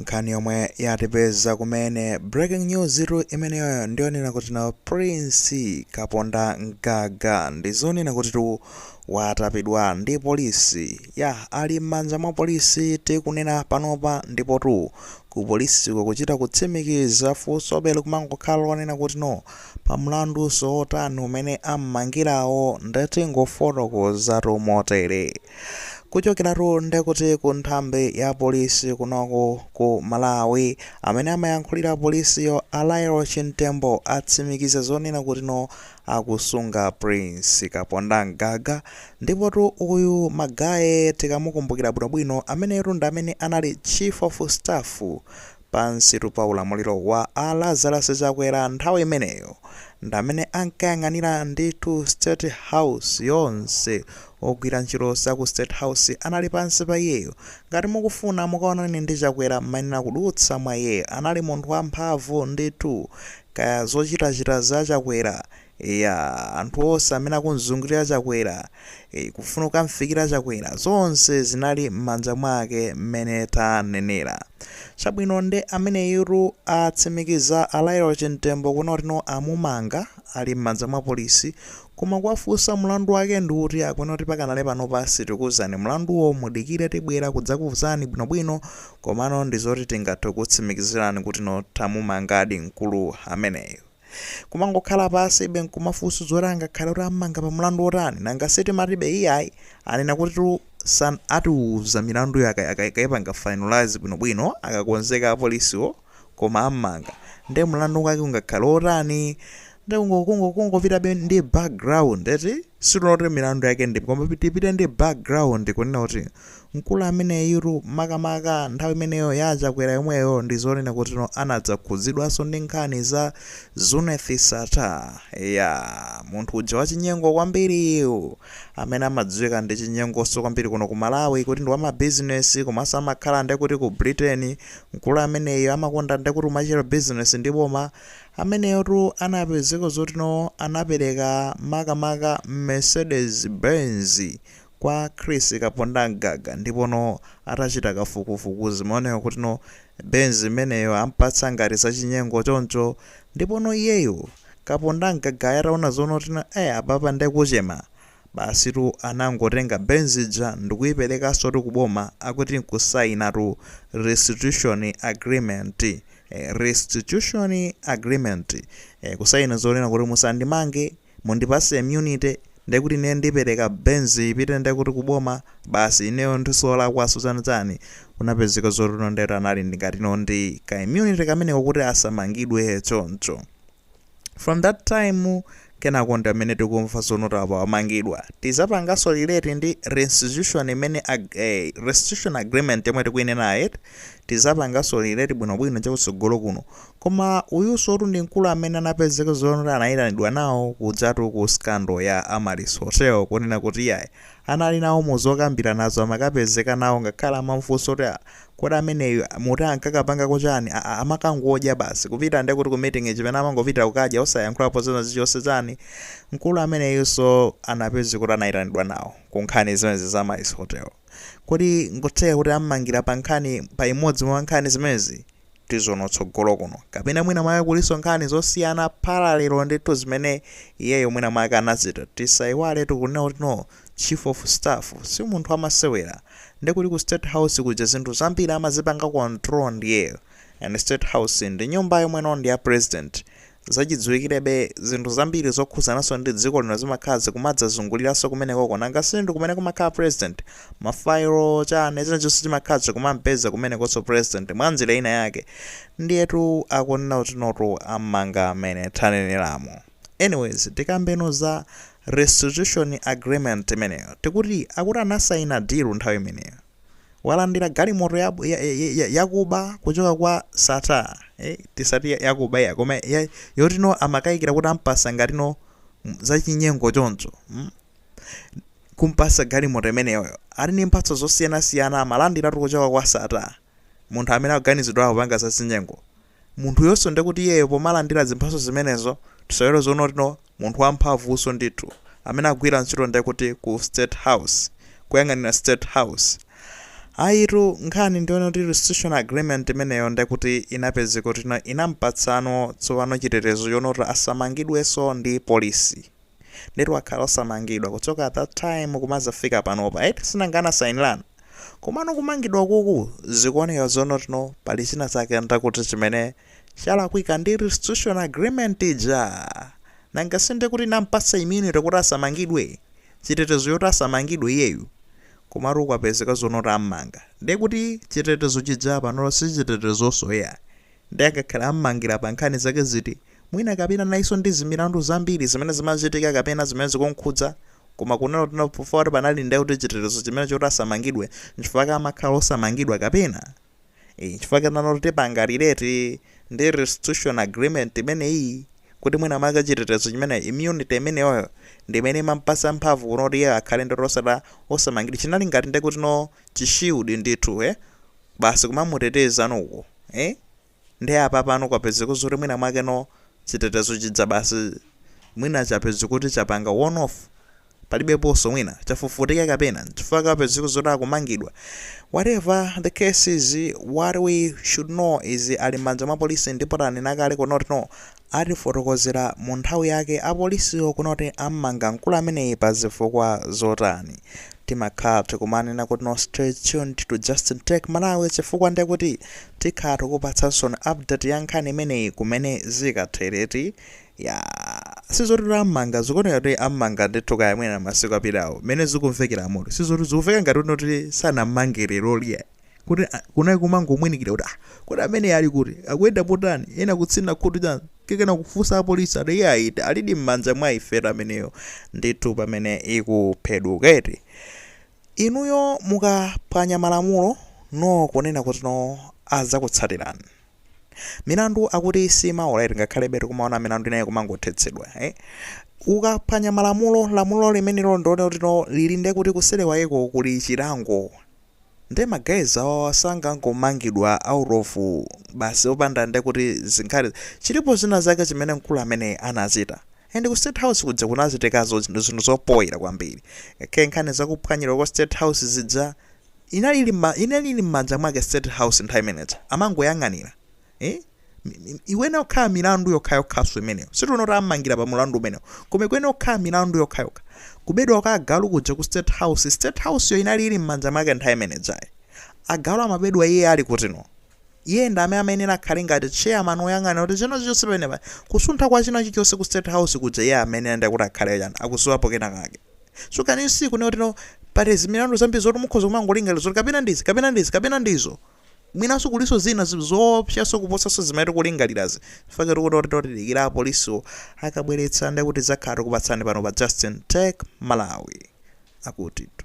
Nkhani yomwe yatipeza kumene breaking news tu imeneyoyo ndiyonena kuti no Prince Kaponda Mgaga ndizonena kuti tu watapidwa ndi polisi ya ali m'manja mwa polisi tikunena panopa ndipo tu ku polisiko kuchita kutsimikiza funsobe likumangokhala lonena kuti no pa mlanduso wotani umene ammangirawo nde tingofotokoza tu motere. kuchokeratu ndekuti ku nthambi ya polisi kunoko ku malawi amene amayankhulira polisiyo a Lael Chimtembo atsimikiza zonena kutino akusunga prince kaponda mgaga ndipotu uyu magaye tikamukumbukira bwinobwino ameneyotu ndi amene anali chief of staff pansitu pa ulamuliro wa a Lazarus Chakwera nthawi imeneyo ndamene ankayang'anira ndithu state house yonse ogwira ntchito za ku state house anali pansi pa iyeyo ngati mukufuna mukaonane ndi Chakwera mmayenera kudutsa mwa iyeyo anali munthu wamphamvu ndithu kaya zochitachita za Chakwera Eya anthu onse amene akumzungulira chakwera ee kufuna kukamfikira chakwera zonse zinali mmanja mwake mmene tanenera chabwino nde ameneyutu atsimikiza a Lael Chimtembo kunena kuti no amumanga ali mmanja mwa polisi koma kuwafunsa mlandu wake ndi uti akunena kuti pakanali panopa sitikuuzani mlanduwo mudikire tibwera kudzakuuzani bwinobwino komano ndizoti tingathe kukutsimikizirani kuti no tamumangadi mkulu ameneyu. Kumangokhala pansibe nkumafunsa zoti angakhale kuti ammanga pa mlandu wotani nanga sitimati be iyayi anena kutitu san atiuza milanduyo aka- aka- akaipanga finalize bwinobwino akakonzeka apolisiwo koma ammanga nde mlandu wake ungakhale wotani nde kungo- kungo- kungopitabe ndi background eti sitinoti milandu yake ndi koma tipite ndi background kunena kuti Mkulu ameneyitu makamaka nthawi imeneyo ya a Chakwera yomweyo ndi zonena kutino anadzakhudzidwanso ndi nkhani za Zuneth Sattar eya munthu uja wachinyengo kwambiriyu amene amadziwika ndi chinyengonso kwambiri kuno ku Malawi kuti ndi wamabizinesi komanso amakhala nde kuti ku Britain mkulu ameneyo amakonda nde kuti kumachita bizinesi ndi boma ameneyotu anapezeka zotino anapereka makamaka Mercedes Benz Kwa Chris Kaponda Mgaga ndipo no atachita kafukufuku zimaoneka kuti no Benz imeneyo ampatsa ngati zachinyengo choncho ndipo no iyeyu Kaponda Mgagayo ataona zonoti no eh apapa nde kuchema basitu anangotenga Benz ija ndikuiperekansotu ku boma akuti nkusainatu restitution agreement eh restitution agreement eh kusaina zonena kuti musandimange mundipase immunity nde kuti ine ndipereka benz ipite nde kuti kuboma basi ineyo ndi solakwanso chani chani kunapezeka zoti no ndetu anali ngati no ndi ka immunity kameneko kuti asamangidwe choncho from that time kenako ndi amene tikumva zonoti apa wamangidwa tizapangaso relate ndi restitution imene ag eh, restitution agreement yomwe tikuinenayo tizapangaso relate bwinobwino chakutsogolo kuno Koma uyunsotu ndi mkulu amene anapezeka zoona kuti anaitanidwa nawo kujatu ku scandal ya Amaryllis Hotel kunena kuti iyayi anali nawo mu zokambiranazo amakapezeka nawo ngakhale amamufunsa kuti ah kodi ameneyu muti ankakapangako chani ah amakangodya basi kupita ndekuti ku meeting chimene amangopitira kukadya osayankhulapo zina zichonse chani mkulu ameneyunso anapezeka kuti anaitanidwa nawo ku nkhani zimenezi za Amaryllis Hotel kodi nkutheka kuti amumangira pa nkhani pa imodzi mwa nkhani zimenezi tizaona tsogolo kuno kapena mwina mwake kuliso nkhani zosiyana parallel ndithu zimene iyeyo mwina mwake anazita tisaiwale tikunena kuti no chief of staff si munthu wamasewera nde kuti ku state house kuja zinthu zambiri amazipanga control ndiyeyo and state house ndi nyumba yomwe no ndi ya president Zachidziwikirebe, zinthu zambiri zokhudzananso ndi dziko lino zimakhala zikumadzazunguliranso kumenekoko. Nanga si ndi kumene kumakhala president? Mafayilo, chani, china chilichonse chimakhala chikumampeza kumenekonso president, mwa njira ina yake. Ndiyetu akunena kuti notu ammanga amene taneneramo. Anyways, tikambeno za Restitution Agreement imeneyo. Tikuti, akuti anasaina deal nthawi imeneyo. walandira galimoto ya, ya, ya, ya, yakuba kuchoka kwa sattar eh, tisati ya- yakuba ya koma ya- yoti no amakayikira kuti ampasa ngati no mm, zachinyengo choncho mm? kumpasa galimoto imeneyoyo ali ni mphatso zosiyanasiyana amalandiratu kuchoka kwa sattar munthu amene akuganizidwa kupanga zachinyengo Munthuyonso nde kuti iyeyo pomalandira zimphatso zimenezo, tisaiwale zoona kuti no munthu wamphamvunso ndithu, amene akugwira ntchito nde kuti ku state house, kuyang'anira state house. Ayitu, nkhani ndi yonena kuti restitution agreement imeneyo nde kuti inapezeka kuti no inampatsa no tsopano chitetezo choona kuti asamangidwenso ndi polisi. ndetu akhala osamangidwa kuchoka at that time kumazafika panopa eti sinanga anasainirana komano kumangidwa kuku zikuoneka zonotino pali china chake nde kuti chimene chalakwika ndi restitution agreement ija nanga sinde kuti inampasa immunity kuti asamangidwe chitetezo choti asamangidwe iyeyu komatu kwapezeka zonoti ammanga ndiye kuti chitetezo chija panopa sichitetezoso iya Nde akakhala ammangila pa nkhani zake ziti? Mwina kapena nayeso ndi zimilandu zambiri zimene zimachitika kapena zimene zikumkhudza? Koma kunena kuti no chifukwa kuti panali nde kuti chitetezo chimene choti asamangidwe nchifukwa ake amakhala osamangidwa kapena? Eeh nchifukwa ake pano tikupanga relate ndi restitution agreement imeneyi kuti mwina mwake chitetezo chimene immunity imeneyoyo ndi imene imampatsa mphamvu kunoti iyeyo akhale ndoti osati osamangidwa chinali ngati nde kuti no chi shield ndithu eeh. basi kumamuteteza uku eh nde apa pano kwapezeka zoti mwina mwake no chitetezo chija basi mwina chapezeka kuti chapanga one off palibeponso mwina chafufutika kapena chifukwa kwapezeka zoti akumangidwa whatever the case is what we should know is ali m'manja mwa polisi ndipo tanena kale kunoti no atifotokozera mu nthawi yake apolisiwo kunoti ammanga mkulu ameneyi pa zifukwa zotani? Timakhala tikumanena kuti no stay tuned to Justin Tech Malawi chifukwa nde kuti tikhala tikupatsansoni update ya nkhani imeneyi kumene zikathere ti Yaah sizoti kuti ammanga zikuoneka kuti ammanga ndithu kaya mwina masiku apitawo mmene zikumvekeramu sizoti zikumveka ngati kuti sanammange leroli ai. kuti ah, kunali kumangomwinikira kuti ah, kodi amene ali kuti akuyenda potani ena kutsina khutu chani kenaka kufunsa apolisi ati iye ayi alidi m'manja mwa ifeyo ameneyo ndithu pamene ikuphedwuka eti inuyo mukaphwanya malamulo no kunena kuti no azakutsatirani milandu akuti simaola ngakhalebe tikumaona milandu inayo kumangothetsedwa eh? ukaphwanya malamulo lamulo limenelo ndone kuti no lili nde kuti kuseri kwakeko kuli chilango Nde ma guys awawa sangangomangidwa out of basi opanda ndekuti zikhale chilipo zina zake zimene mkulu ameneyi anachita and ku state house kuja kunachitikanso zinthu zinthu zopoira kwambiri kk nkhani za kuphwanyidwa kwa state house zija inali ili mma inali ili mmanja mwake state house nthawi imeneja amangoyang'anira eh? ikuyenera kukhala milandu yokhayokhaso imeneyo sitikuti ammangira pa mulandu umenewo koma ikuyenera kukhala milandu yokhayokha kubedwa kwa agalu kuja ku state house state house yo inali ili m'manja mwake nthawi imenejayi agalu amabedwa iye ali kutino iye ndi amene amayenera akhale ngati chairman woyang'ana kuti china chilichonse pamenepa kusuntha kwa china chilichonse ku state house kuja iye amene ndi kuti akhale chani akudziwapo kena kake so can you see kunena kuti no pali zimilandu zambiri zoti mukhoza kumangolingalira zoti kapena ndizi kapena ndizi kapena ndizo Mwinanso kulinso zina zoopsanso kuposanso zimene tikulingalirazi chifukwa choti kuti oti tidikira apolisiwo akabweretsa ndekuti tidzakhala tikupatsani pano pa Justin Tech Malawi akutitu.